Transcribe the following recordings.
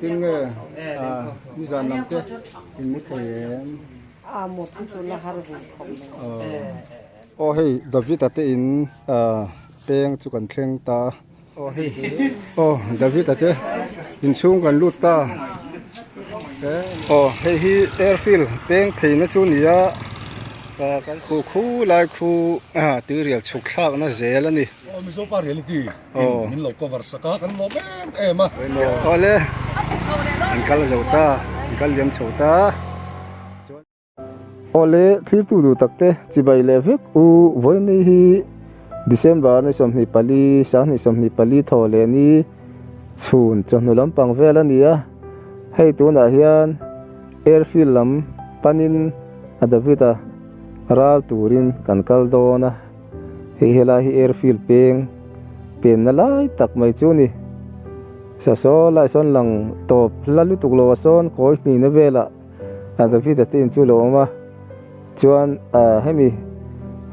Tin nge a nizan lam te in mu thei em? Aw hei, Davita te in peng chu kan thleng ta. Aw Davita te in chhung kan lut ta. Aw hei hi airfield peng phei na chu nia, kan khuh khu lai khu tui rial chhuk thlak na zel a ni. in min lo cover sak a kan lawm em em a tawh le an kal zo ta an kal liam chho ta aw le thirtu duh tak te chibai leh vek u vawiini hi December ni sawmhnih pali sanghnih sawmhnih pali thaw leh ni chhun chawhnu lampang vel a ni a hei tun ah hian airfield lam panin a David a ral turin kan kal dawn a. Hei helai hi airfield peng penna lai tak mai chu ni. Sasaw lai sawn lang tawp hla lutuk lo a sawn kawi hnihna vela David a tiin chu lo awm a, chuan hemi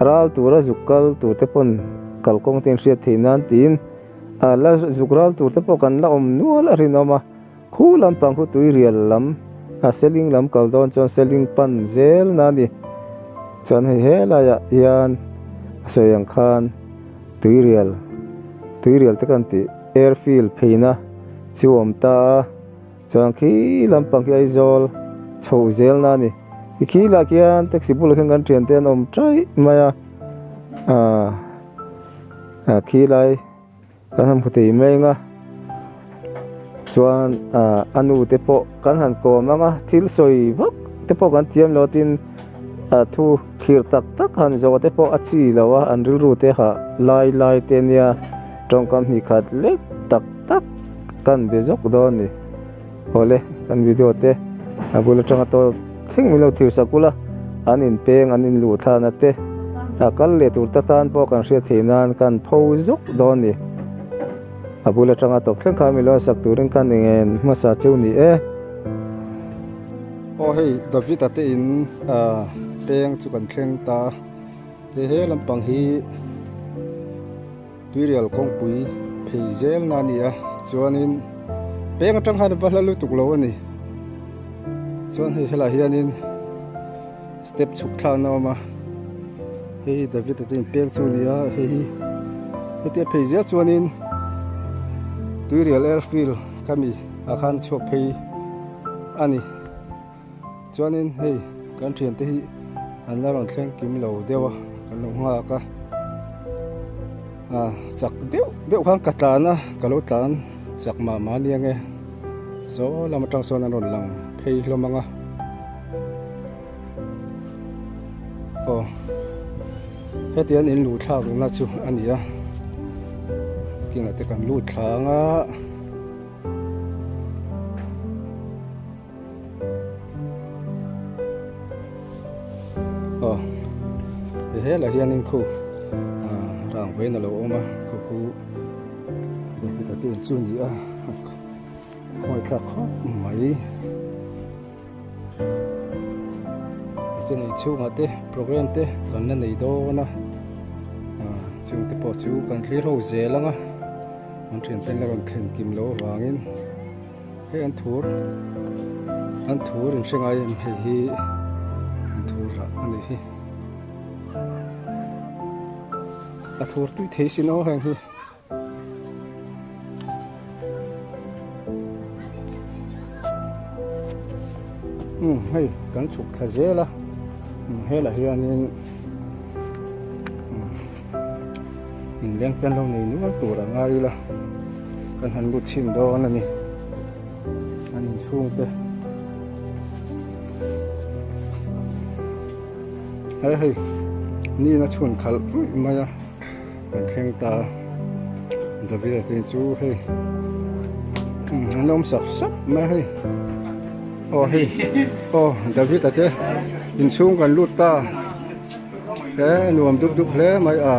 ral tura zuk kal tur te pawn kalkawng te in hriat theih nan tiin la zuk ral tur te pawh kan la awm nual a rinawm a. Khu lampang khu tuirial lam a ceiling lam kal dawn chuan ceiling pan zel na a ni. Chuan hei helaiah hian a sawi ang khan tuirial tuirial te kan tih air fill pheina chu awm ta a, chuan khi lampang hi Aizawl chho zel na a ni. I khi lah khian taxi bulah khian kan thiante an awm ṭaih mai a, a khi lai. Kan han hmu thei mai nga, chuan a nu te pawh kan han kawm ang a, thil sawi vak te pawh kan thiam lo tin a thu khirh tak tak han zawh te pawh a chi lo a, an rilru te ha lai lai te nia tawngkam hnih khat lek tak tak kan be zawk dawn a ni. Awle kan video te a bul atanga tawl thleng min lo thirsak bul a, an inpeng an inluh thlan a te a kal leh tur ta tan pawh kan hriat theih nan kan pho zawk dawn ni. A bul atanga tawp thleng kha min lo sak turin ka ni ngen hmasa cheu ni e. Aw hei Davita te in peng chu kan thleng ta a, he he lampang hi. Tirial kawngpui phei zel na nia chuanin peng atang khan a va hla lutuk lo a ni. Chuan hei helaiah hianin step chhuk thla an awm a, hei hi David-a te'n peng chu a ni a, hei hi heti a phei zel chuanin Tirial Airfield kha mi ah khan chhuak phei a ni. Chuanin hei kan thiante hi an la rawn thleng kim lo deuh a, kan lo nghak a, chak deuh deuh khan ka tlan a, ka lo tlan chak mah mah nia nge saw lam atang sawn an rawn lang phei hlawm ang a, aw heti an in lu thlak na chu a ni a, king ah te kan lut thlang a. Aw ti hel ah hian in khu rang vei na lo awm a, khupu Bawlhti ta te in chu a ni a, a khawithlak khawp mai, enge nei chhung ah te program te kan la nei dawn a, chung te pawh chu kan hlir ho zel ang a, an thianten la rawn thlen kim loh avangin. Hei an thu an thu rin hre ngai em hei hi an thu rah a ni hi a thur tui thei sin aw heng hi um hei kan chhuk thla zel a um helah hianin um In lengtian lo nei nual tur a ngai ila kan han lut chhin dawn a ni. An in chhung te. Hei hei. Ni na chhun khal rui mai a. Kan thleng ta. David atin chu hei. An om sap sap mai hei. Oh hei. Oh David ate in chhung kan lut ta. he nuam dup dup hle mai a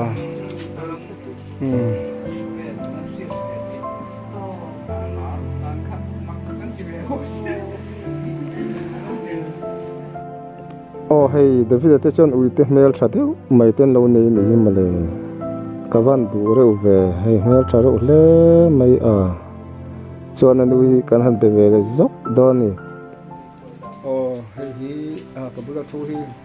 umm aw hei davida te chuan ui te hmel tha deuh mai te an lo nei ni hi mawle ka van duh reuh ve hei hmel tha reuh hle mai a chuan a nu hi kan han be ve leh zauh dawn a ni aw hei hi ka bula thu hi--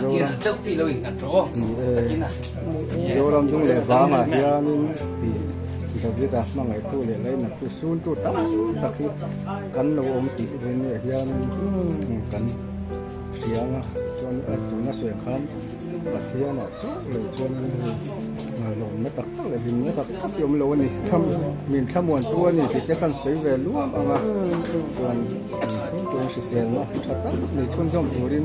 Zoram Zoram Dung leh vanga hianin hei David a hmangaihtu leh lainaktu sultu tam tak hi kan lo awm tih rinawmah hianin kan hriang a, chuan tuna sawi khan Pathianah chauh lo chuanin hei ngailawmna tak tak leh hlimna tak tak hi awm lo a ni. Min thlamuan chu a ni tih te khan sawi ve luang ang a, chuan min chhungkua hriselna tha tak nei chhunzawm turin,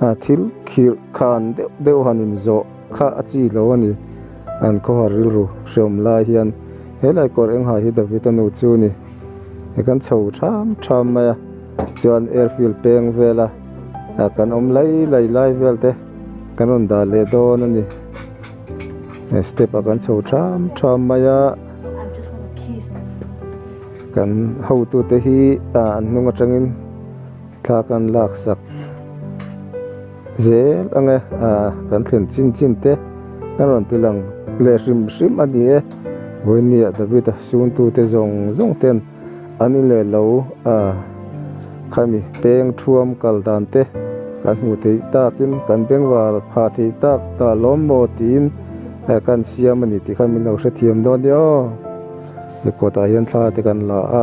a thil khirh khan deuh deuh han inzawh kha a chi lo a ni. An khawhar rilru hreawm lai hian helai kawr eng ha hi David-a nu chu ni. I kan chho ṭham ṭham mai a, chuan airfield peng vela kan awm lai lai lai velte kan rawn dah leh dawn a ni. Step-ah kan chho ṭham ṭham mai a, kan hotute hi an hnung aṭangin Thla kan lak sak zel ang e, kan thlen chin chin te kan rawn ti lang leh hrim hrim a ni e. Vawinia Davida sungtute zawng zawng ten an i leh lo a, khami peng thuam kal dan te kan hmuh theih takin kan bengvar pha theih tak ta lawm maw tiin ka insiam a ni tih kha min lo hrethiam dawn ni aw. Report ah hian thla te kan la a.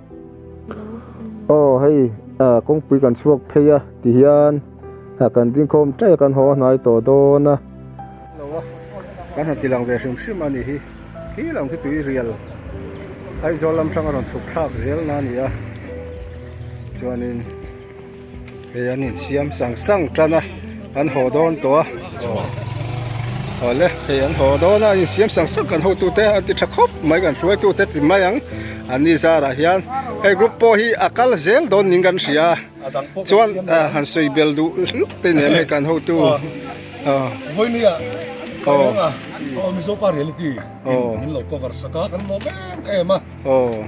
Aw hei kawngpui kan chhuak phei a tihian kan dingkhawm teh kan haw a hnai tawh dawn a kan han tilang ve hrim hrim a ni hi khi lo khi tui rial aizawl lam tang a rawn chhuk thlak zel na a ni a chuanin-- hei an in siam sang sang tan a an haw dawn tawh a aw aw le hei an haw dawn a an in siam sang sang kan hotu te an ti tha khawp mai kan hruai tute ti mai ang an ni zar ah hian hei group pawh hi a kal zel dawn niin kan hria chuan han sawi bel duh hluk te nen hei kan hotu vawimia mizopa reality in min lo cover sak a kan nawm em em a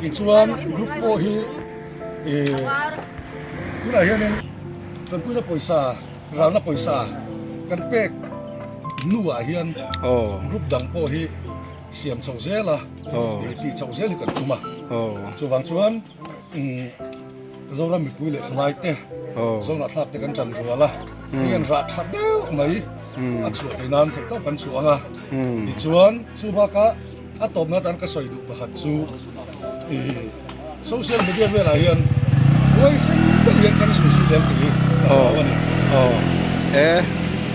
tichuan group pawh hi tunah hianin kan puina pawisa ralna pawisa kan pek hnuah hian group dang pawh hi siam chho zel a ti chho zel hi kan tum a chuvang chuan Zoram mipui leh thalai te zawngah thlak te kan tan rual a heng rah tha deuh mai a chhuah thei nan theih tawh kan chuang a tichuan chu bakah A tawpna tan ka sawi duh pakhat chu i social media velah hian buai sen deuh hian kan sawi si lem tih hi ka hmu a ni. Aw e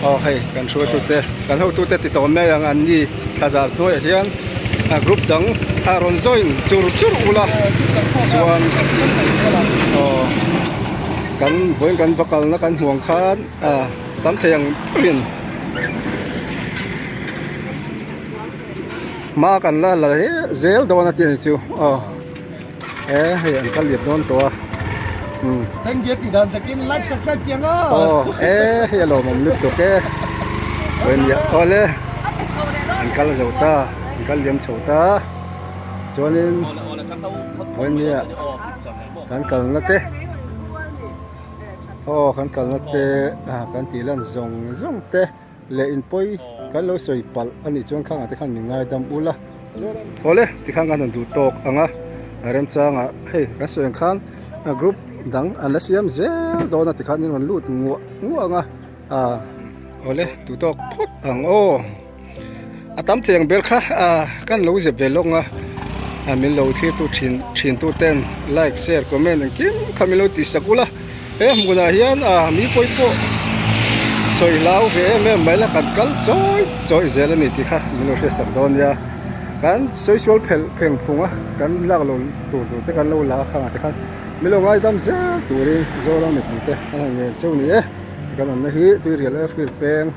aw hei kan hruaitute kan hotute ti tawn mai ang an ni thlazar hnuaiah hian a group dang a rawn join chur chur ul a chuan aw kan vawiin kan va kalna kan hmuang khan a tam thei ang in. hma kan la la zel dawn a tih chu aw he hei an kal leh dawn tawh a thank you tih dan takin like subscribe kiang a aw he hei a lawm awm lutuk bawk e pawh ania awle an kal zo ta an kal liam chho ta chuanin pawh ania kan kal na te aw kan kal na te kan tih lan zawng zawng te. leh in pawi kan lo sawi palh a nih chuan khang ah te khan min ngai dam ula awle ti khan kan rawn duh tawk ang a remchang ah hei kan sawi ang khan group dang an la siam zel dawn a ti khan in rawn lut nguah nguah ang a awle duh tawk phawt ang aw. A tam thleng ber kha kan lo zep ve lawk a, min lo thlir tu thin thin tu ten like share comment engkim kha min lo ti sak ulh a, he hmun ah hian mi pawi pawh sawi hlau ve em em mai la kan kal chawi chawi zel a ni tih kha min lo hriat sak dawn nia, kan sawi sual phelh pheng phung a kan lak lo tur tur te kan lo la khan ang te khan min lo ngai dam zel turin zoram mipuite an han nghen chauh a ni e, kan awmna hi tuirial air field peng.